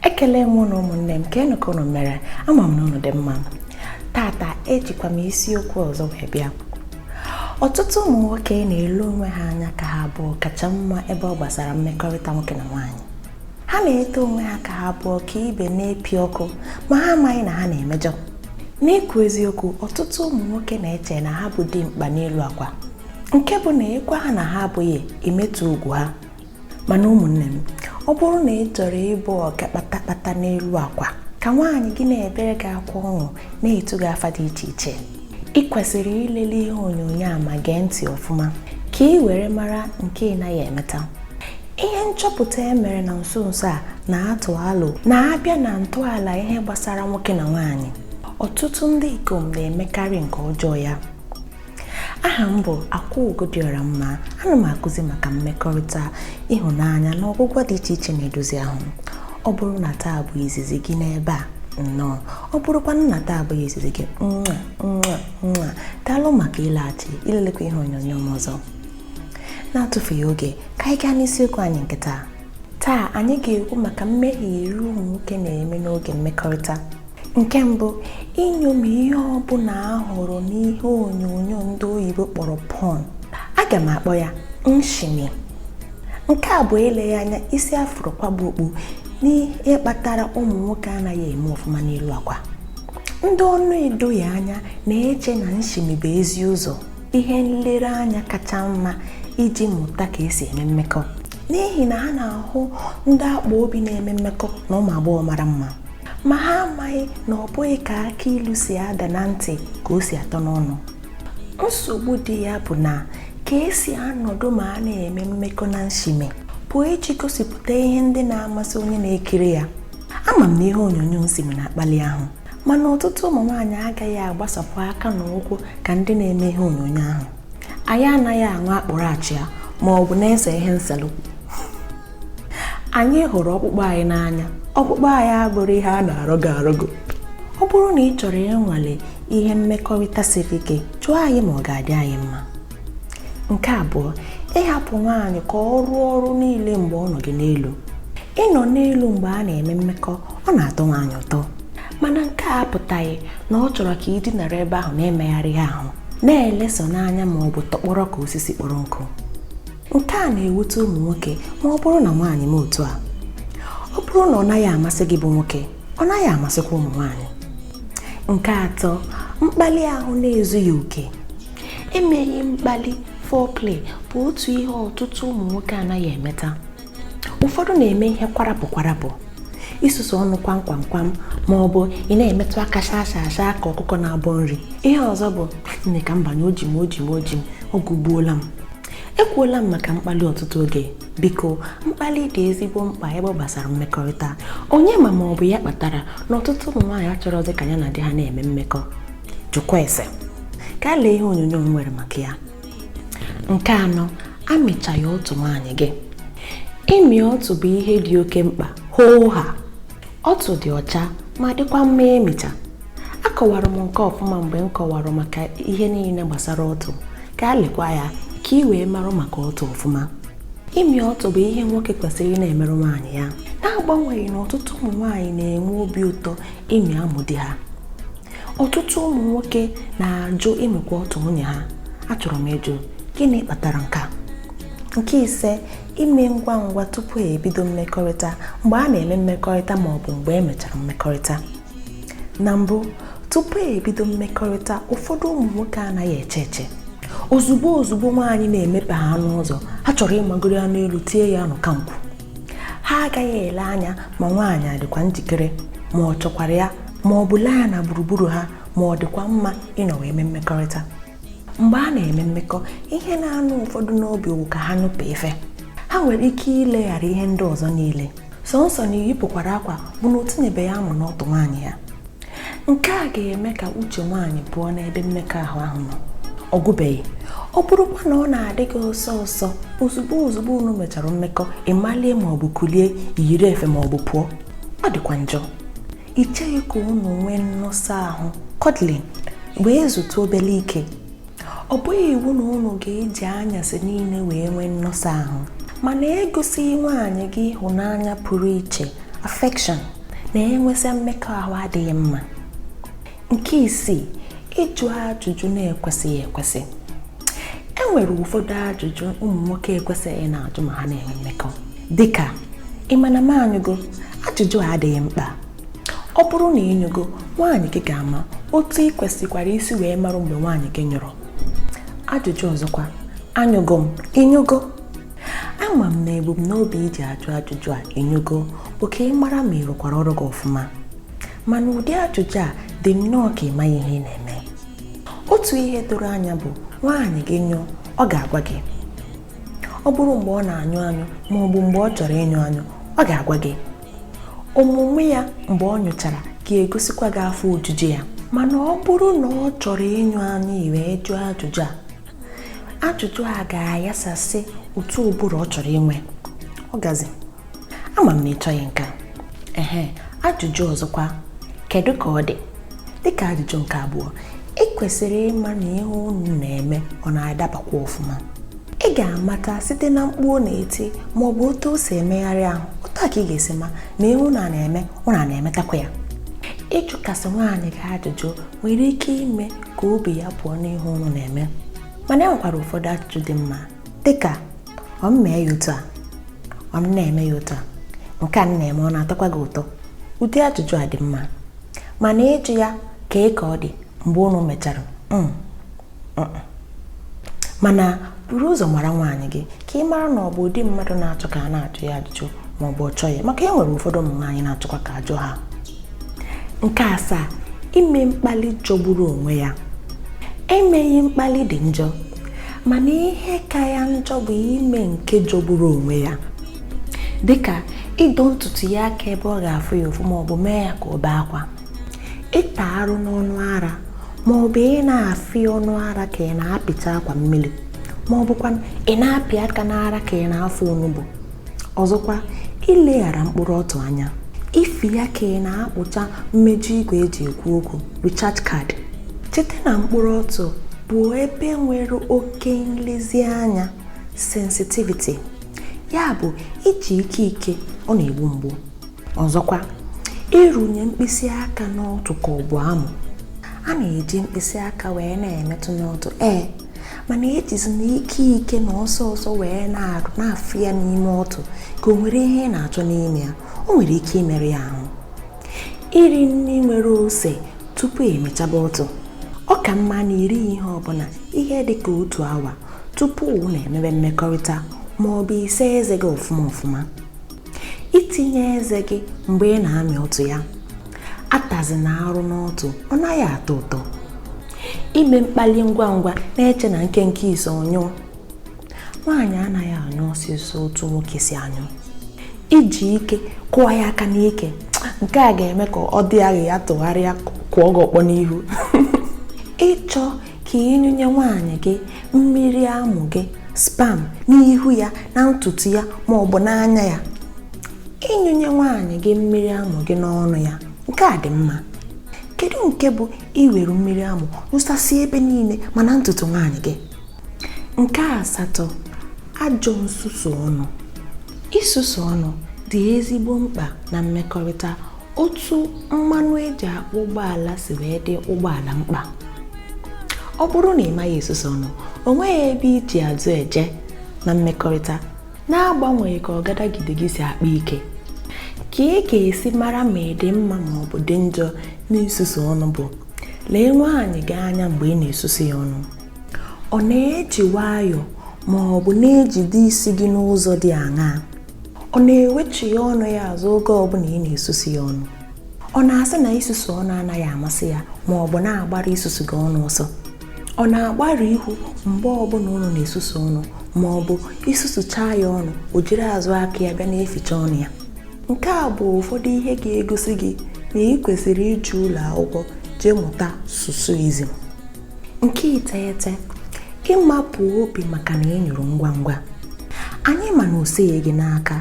ekele m ụnụ ụmụnne m kedụ ka ụnụ mere ama m na ụnụ dị mma tata ejikwa m isiokwu ọzọ wee bịa ọtụtụ ụmụ nwoke na-ele onwe ha anya ka ha bụ ọkacha mma ebe ọ gbasara mmekọrịta nwoke na nwaanyị ha na-eto onwe ha ka ha bụ ọkaibe na-epi ọkụ ma ha amaghị na ha na-emejọ n'ikwu eziokwu ọtụtụ ụmụ nwoke na-eche na ha bụ dimkpa n'elu akwa nke bụ na ị gwa ha na ha abụghị emetụ ugwu ha mana ụmụnne m ọ bụrụ na ị chọrọ ịbụ ọga kpatakpata n'elu akwa ka nwaanyị gị na-ebere gị akwa ọṅụ na-etu gị afa dị iche iche ị kwesịrị ilele ihe onyonyo a ma gee ntị ọfụma ka ị were mara nke ị naghị emeta ihe nchọpụta e mere na nso nso a na-atụ alo na a bịa na ntọala ihe gbasara nwoke na nwaanyị ọtụtụ ndị ikom na-emekarị nke ọjọọ ya aha m bụ akwaugo dị ọra mma ana m akụzi maka mmekọrịta ịhụnanya na ọgwụgwọ dị iche iche na-edozi ahụ ọ bụrụ na taa bụ izizi gị n'ebe a nnọọ ọ bụrụkwanụ na taa abụghị izizi gị nwa nwa nwa daalụ maka ịlaghachi ilelekwa ihe onyonyo m ọzọ na-atụfughị oge ka anyị gaa n'isiokwu anyị nke taa taa anyị ga-ekwu maka mmehie iri ụmụ nwoke na-eme n'oge mmekọrịta nke mbụ iṅomi ihe ọ bụla a hụrụ n'ihe onyonyo ndị oyibo kpọrọ porn aga m akpọ ya nshimi nke a bụ eleghị anya isi a fụrụ kwaba okpu n'ihe kpatara ụmụ nwoke anaghị eme ọfụma n'elu akwa ndị ọ na-edoghị anya na-eche na nshimi bụ ezi ụzọ ihe nlereanya kacha mma iji mụta ka e si eme mmekọ n'ihi na ha na-ahụ ndị akpa obi na-eme mmekọ na ụmụ agbọghọ mara mma ma ha amaghị na ọ bụghị ka akụ ilu si ada na ntị ka o si atọ n'ọnụ nsogbu dị ya bụ na ka e si anọdụ ma a na-eme mmekọ na nshimi bụ iji gosipụta ihe ndị na-amasị onye na-ekiri ya ama m na ihe onyonyo nshimi na-akpali ahụ mana ọtụtụ ụmụ nwaanyị agaghị agbasapụ aka na ụkwụ ka ndị na-eme ihe onyonyo ahụ anyị anaghị aṅụ akpụrụ achịa ma ọ bụ na-ese ihe nselụ anyị hụrụ ọkpụkpụ anyị n'anya ọkpụkpụ anyị abụrọ ihe a na-arọgọ arọgọ ọ bụrụ na ị chọrọ ịnwale ihe mmekọrịta siri ike jụọ anyị ma ọ ga-adị anyị mma nke abụọ ịhapụ nwaanyị ka ọ rụọ ọrụ niile mgbe ọ nọ gị n'elu ịnọ n'elu mgbe a na-eme mmekọ ọ na-atọ nwaanyị ụtọ mana nke a apụtaghị na ọ chọrọ ka ị dinara ebe ahụ na-emegharịghị ahụ na-eleso n'anya ma ọ bụ tọkpọrọ ka osisi kpọrọ nkụ nke a na-ewute ụmụ nwoke ma ọ bụrụ na nwaanyị mee otu a ọ bụrụ na ọ naghị amasị gị bụ nwoke ọ naghị amasịkwa ụmụ nwaanyị nke atọ mkpali ahụ na-ezughị oke emeghị mkpali foreplay bụ otu ihe ọtụtụ ụmụ nwoke anaghị emeta ụfọdụ na-eme ihe kwarapụ kwarapụ isusu ọnụ kwam kwam kwam ma ọ bụ ị na-emetụ aka shaa shaa shaa ka ọkụkọ na-abọ nri ihe ọzọ bụ nne ka m banye o ji m o ji m o ji m oge egbuola m ekwuola m maka mkpali ọtụtụ oge biko mkpali dị ezigbo mkpa ebe ọ gbasara mmekọrịta onye ma ma ọ bụ ya kpatara na ọtụtụ ụmụ nwaanyị achọrọzi ka ya na di ha na-eme mmekọ jụkwa ese gaa lee ihe onyonyo m nwere maka ya nke anọ amịchaghị ọtụ nwaanyị gị ịmị ọtụ bụ ihe dị oke mkpa hoo ha ọtụ dị ọcha ma dịkwa mma ịmịcha akọwara m nke ọfụma mgbe m kọwara maka ihe niile gbasara ọtụ gaa lekwa ya ka ị wee marụ maka ọtụ ọfụma ịmị ọtụ bụ ihe nwoke kwesịrị ị na-emerụ nwaanyị ya na-agbanweghị na ọtụtụ ụmụ nwaanyị na-enwe obi ụtọ ịmị amụ di ha ọtụtụ ụmụ nwoke na-ajụ ịmịkwa ọtụ nwunye ha achọrọ m ịjụ gịnị kpatara nke a nke ise ime ngwa ngwa tupu e bido mmekọrịta mgbe a na-eme mmekọrịta ma ọ bụ mgbe e mechara mmekọrịta na mbụ tupu e bido mmekọrịta ụfọdụ ụmụ nwoke anaghị eche eche ozugbo ozugbo nwaanyị na-emepe ha n'ụzọ ha chọrọ ịmagoro ya n'elu tie ya nụ ka nkwụ ha agaghị ele anya ma nwaanyị adịkwa njikere ma ọ chọkwara ya ma ọ bụ lee anya na gburugburu ha ma ọ dịkwa mma ịnọ wee mee mmekọrịta mgbe a na-eme mmekọ ihe na-anụ ụfọdụ n'obi wụ ka ha nyụpụ ife ha nwere ike ileghara ihe ndị ọzọ niile sọnsọ na iyipụkwara akwa bụ na o tinyebeghị amụ n'ọtụ nwaanyị ya nke a ga-eme ka uche nwaanyị pụọ n'ebe mmekọahụ ahụ nọ ọ gwụbeghị ọ bụrụkwa na ọ na-adị gị ọsọ ọsọ ozugbo ozugbo unu mechara mmekọ ị malie ma ọ bụ kulie yiri efe ma ọ bụ pụọ ọ dịkwa njọ i cheghị ka unu nwee nnọsọ ahụ cuddling wee zutụ obele ike ọ bụghị iwu na unu ga-eji anyasị niile wee nwee nnọsọ ahụ mana egosighị nwaanyị gị ịhụnanya pụrụ iche affection na-enwesa mmekọahụ adịghị mma nke isii ịjụ ajụjụ na-ekwesịghị ekwesị e nwere ụfọdụ ajụjụ ụmụ nwoke ekwesịghị na-ajụ ma ha na-enwe mmekọ dịka ị ma na m anyụgo ajụjụ a adịghị mkpa ọ bụrụ na ị nyụgo nwaanyị gị ga-ama otu ị kwesịkwara isi wee marụ mgbe nwaanyị gị nyụrụ ajụjụ ọzọkwa anyụgo m ị nyụgo ama m na ebumnobi i ji ajụ ajụjụ a ị nyụgo bụ ka ị mara ma ị rụkwara ọrụ gị ọfụma mana ụdị ajụjụ a dị nnọọ ka ị maghị ihe ị na-eme otu ihe doro anya bụ nwaanyị gị nyụọ ọ ga-agwa gị ọ bụrụ mgbe ọ na-anyụ anyụ ma ọ bụ mgbe ọ chọrọ ịnyụ anyụ ọ ga-agwa gị omume ya mgbe ọ nyụchara ga-egosikwa gị afọ ojuju ya mana ọ bụrụ na ọ chọrọ ịnyụ anyụ ị wee jụọ ajụjụ a ajụjụ a ga-ayasasị ụtọ ụbụrụ ọ chọrọ inwe orgasm ama m na ị chọghị nke a. ehe ajụjụ ọzọkwa kedu ka ọ dị dịka ajụjụ nke abụọ ị kwesịrị ịma na ihe unu na-eme ọ na-adabakwa ọfụma ị ga-amata site na mkpu ọ na-eti ma ọ bụ otu o si emegharị ahụ otu a ka ị ga-esi ma na ihe unu a na-eme ọ na na-emetakwa ya ịjụkasị nwaanyị gị ajụjụ nwere ike ime ka obi ya pụọ n'ihe unu na-eme mana e nwekwara ụfọdụ ajụjụ dị mma dịka ọ m mee ya otu a ọ m na-eme ya otu a nke a m na-eme ọ na-atọkwa gị ụtọ ụdị ajụjụ a dị mma mana ịjụ ya kee ka ọ dị mgbe unu mechara mm, mm, mm. mana buru ụzọ mara nwaanyị gị ka ị mara na ọ bụ ụdị mmadụ na-achọ ka a na-ajụ ya ajụjụ ma ọ bụ ọ chọghị maka e nwere ụfọdụ ụmụ nwaanyị na-achọkwa ka a jụọ ha nke asaa ime mkpali jọgburu onwe ya emeghị mkpali dị njọ mana ihe ka ya njọ bụ ime nke jọgburu onwe ya dịka ịdọ ntutu ya aka ebe ọ ga-afụ ya ụfụ maọbụ mee ya ka ọ bee akwa ịta arụ n'ọnụ ara maọbụ ị na-afị ọnụ ara ka ị na-apịcha akwa mmiri maọbụkwa ị na-apị aka n'ara ka ị na-afụ onugbu ọzọkwa ileghara mkpụrụ ọtụ anya ifi ya ka ị na-akpụcha mmeju igwe eji ekwu okwu recharge card cheta na mkpụrụ ọtụ bụ ebe nwere oke nlezianya sensitivity ya bụ iji ike ike ọ na-egbu mgbu ọzọkwa ịrụnye mkpịsị aka n'ọtụ ka ọ bụ amụ a na-eji mkpịsị aka wee na-emetụ n'ọtụ ee mana ejizina ike ike na ọsọ ọsọ wee na-arụ na-afị ya n'ime ọtụ ka o nwere ihe ị na-achọ n'ime ya o nwere ike imerụ ya ahụ iri nri nwere ose tupu ị mịchaba ọtụ ọ ka mma na i rie ihe ọbụla ihe dị ka otu awa tupu unu emebe mmekọrịta ma ọ bụ ị saa eze gị ọfụma ọfụma itinye eze gị mgbe ị na-amị ọtụ ya atazina arụ n'ọtụ ọ naghị atọ ụtọ ime mkpali ngwa ngwa na-eche na nkenke ise ọ nyụọ nwaanyị anaghị anyụ ọsịsọ otu nwoke si anyụ iji ike kụọ ya aka n'ike nke a ga-eme ka ọ dị ya ka ya tụgharịa kụọ gị ọkpọ n'ihu ịchọ ka ịnyụnye nwaanyị gị mmiri amụ gị sperm n'ihu ya na ntutu ya ma ọ bụ n'anya ya ịnyụnye nwaanyị gị mmiri amụ gị n'ọnụ ya nke a dị mma kedu nke bụ iwere mmiri amụ nyụsasị ebe niile ma na ntutu nwaanyị gị nke asatọ ajọ nsusu ọnụ isusu ọnụ dị ezigbo mkpa na mmekọrịta otu mmanụ e ji akpụ ụgbọala si wee dị ụgbọala mkpa ọ bụrụ na ị maghị esusu ọnụ o nweghị ebe i ji azụ eje na mmekọrịta na-agbanweghị ka ọgadagide gị si akpa ike ka ị ga-esi mara ma ị dị mma ma ọ bụ dị njọ n'isusu ọnụ bụ lee nwaanyị gị anya mgbe ị na-esusu ya ọnụ ọ na-eji nwayọọ ma ọ bụ na-ejide isi gị n'ụzọ dị aṅaa ọ na-ewechigha ọnụ ya azụ oge ọbụla ị na-esusu ya ọnụ ọ na-asị na isusu ọnụ anaghị amasị ya ma ọ bụ na-agbara isusu gị ọnụ ọsọ ọ na-agbarụ ihu mgbe ọbụla unu na-esusu ọnụ ma ọ bụ i susuchaa ya ọnụ o jiri azụ aka ya bịa na-eficha ọnụ ya nke a bụ ụfọdụ ihe ga-egosi gị na ị kwesịrị ije ụlọ akwụkwọ jee mụta susuizm nke iteghete ịmapụ obi maka na ị nyụrụ ngwa ngwa anyị ma na o sighi gị n'aka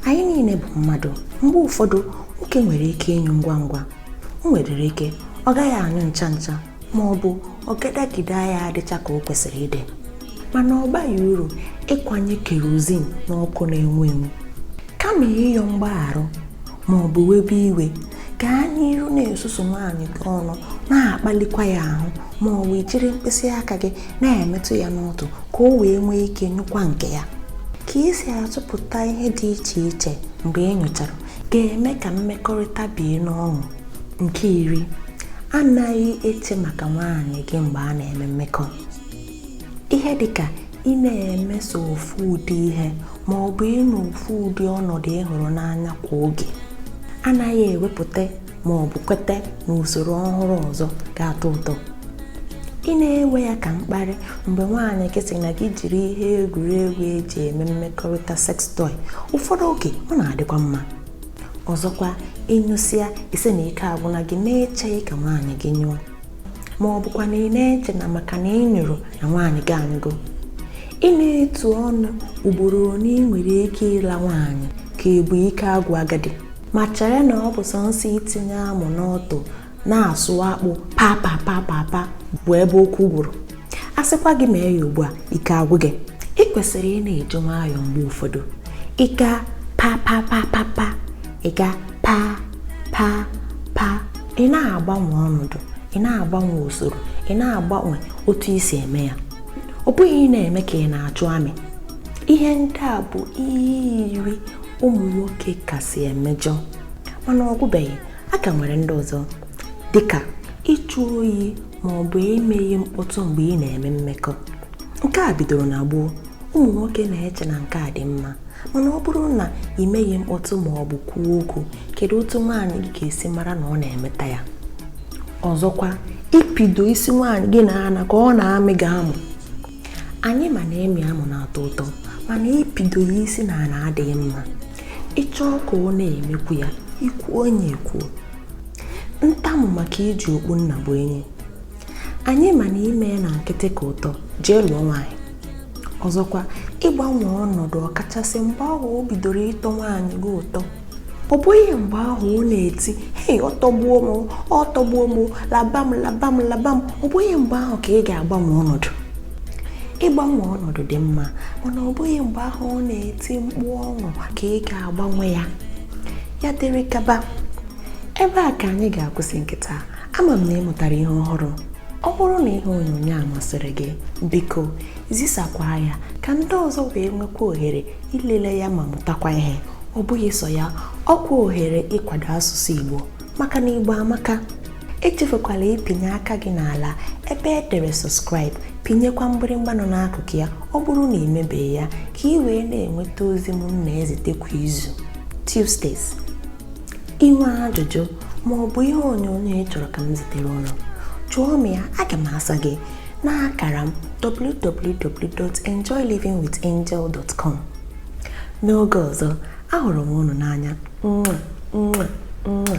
anyị niile bụ mmadụ mgbe ụfọdụ nwoke nwere ike ịnyụ ngwa ngwa o nwedịrị ike ọ gaghị anyụ ncha ncha ma ọ bụ ọgadagide ya adịcha ka o kwesịrị ịdị mana ọ baghị uru ịkwanye kerozin n'ọkụ na-enwu enwu kama ịyọ mgbaghara ma ọ bụ webe iwe gaa n'iru na-esusu nwaanyị gị ọnụ na-akpalikwa ya ahụ ma ọ bụ jiri mkpịsị aka gị na-emetụ ya n'ọtụ ka o wee nwee ike nyụkwa nke ya ka ị si atụpụta ihe dị iche iche mgbe ị nyụchara ga-eme ka mmekọrịta bie n'ọṅụ nke iri anaghị eche maka nwaanyị gị mgbe a na-eme mmekọ ihe dịka ị na-eme sọ ofu ụdị ihe ma ọ bụ ịnọ ofu ụdị ọnọdụ ị hụrụ n'anya kwa oge anaghị ewepụta ma ọ bụ kweta na usoro ọhụrụ ọzọ ga-atọ ụtọ ị na-ewe ya ka mkparị mgbe nwaanyị gị sị na gị jiri ihe egwuregwu e ji eme mmekọrịta sex toy ụfọdụ oge ọ na-adịkwa mma ọzọkwa ị nyụsịa ị sị na ike agwụna gị na-echeghị ka nwaanyị gị nyụọ ma ọ bụkwa na ị na-eche na maka na ị nyụrụ na nwaanyị gị anyụgo ị na-etu ọnụ ugboro one ị nwere ike ịla nwaanyị ka ebu ike agwụ agadi ma chere na ọ bụ sọnsọ itinye amụ n'ọtụ na-asụ akpụ papa papa pa bụ ebe okwu gwụrụ a sịkwa gị mee ya ugbu a ike agwụ gị ị kwesịrị ị na-eji nwayọọ mgbe ụfọdụ ị gaa pa pa pa pa pa ị ga pa pa pa ị na-agbanwe ọnọdụ ị na-agbanwe usoro ị na-agbanwe otu i si eme ya ọ bụghị ị na-eme ka ị na-achụ amị ihe ndị a bụ ihe iri ụmụ nwoke kasị emejọ mana ọ gwụbeghị a ka nwere ndị ọzọ dịka ịjụ oyi ma ọ bụ emeghị mkpọtụ mgbe ị na-eme mmekọ nke a bidoro na gboo ụmụ nwoke na-eche na nke a dị mma mana ọ bụrụ na i meghị mkpọtụ ma ọ bụ kwuo okwu kedu otu nwaanyị gị ga-esi mara na ọ na-emeta ya ọzọkwa ịpịdo isi nwaanyị gị n'ana ka ọ na-amị gị amụ anyị ma na ịmị amụ na-atọ ụtọ mana ịpịdo ya isi n'ana adịghị mma ị chọọ ka ọ na-emekwu ya ikwu onye ekwuo ntamu maka iji okpu nnabuenyi anyị ma na ime ya na nkịtị ka ụtọ jee lụọ nwaanyị ọzọkwa ịgbanwe ọnọdụ ọkachasị mgbe ahụ o bidoro ịtọ nwaanyị gị ụtọ ọ bụghị mgbe ahụ ọ na-eti hei ọtọgbuo m ọtọgbuo m laba m laba m laba m ọ bụghị mgbe ahụ ka ị ga-agbanwe ọnọdụ ịgbanwe ọnọdụ dị mma mana ọ bụghị mgbe ahụ ọ na-eti mkpu ọṅụ ka ị ga-agbanwe ya ya dịrị gaba ebe a ka anyị ga-akwụsị nke taa ama m na ị mụtara ihe ọhụrụ ọ bụrụ na ihe onyonyo a masịrị gị biko zisakwa ya ka ndị ọzọ wee nwekwa ohere ilele ya ma mụtakwa ihe ọ bụghị sọ ya ọ kwa ohere ịkwado asụsụ Igbo maka na Igbo amaka echefukwala ịpịnye aka gị n'ala ebe e dere subscribe pịnyekwa mgbịrịmgba nọ n'akụkụ ya ọ bụrụ na i mebeghị ya ka ị wee na-enweta ozi m na-ezite kwa izu Tuesdays i nwee ajụjụ ma ọ bụ ihe onyonyo ị chọrọ ka m zitere unu jụọ m ya aga m asa gị n'akara m www.enjoylivingwithangel.com n'oge ọzọ ahụrụ m unu n'anya mwa mwa mwa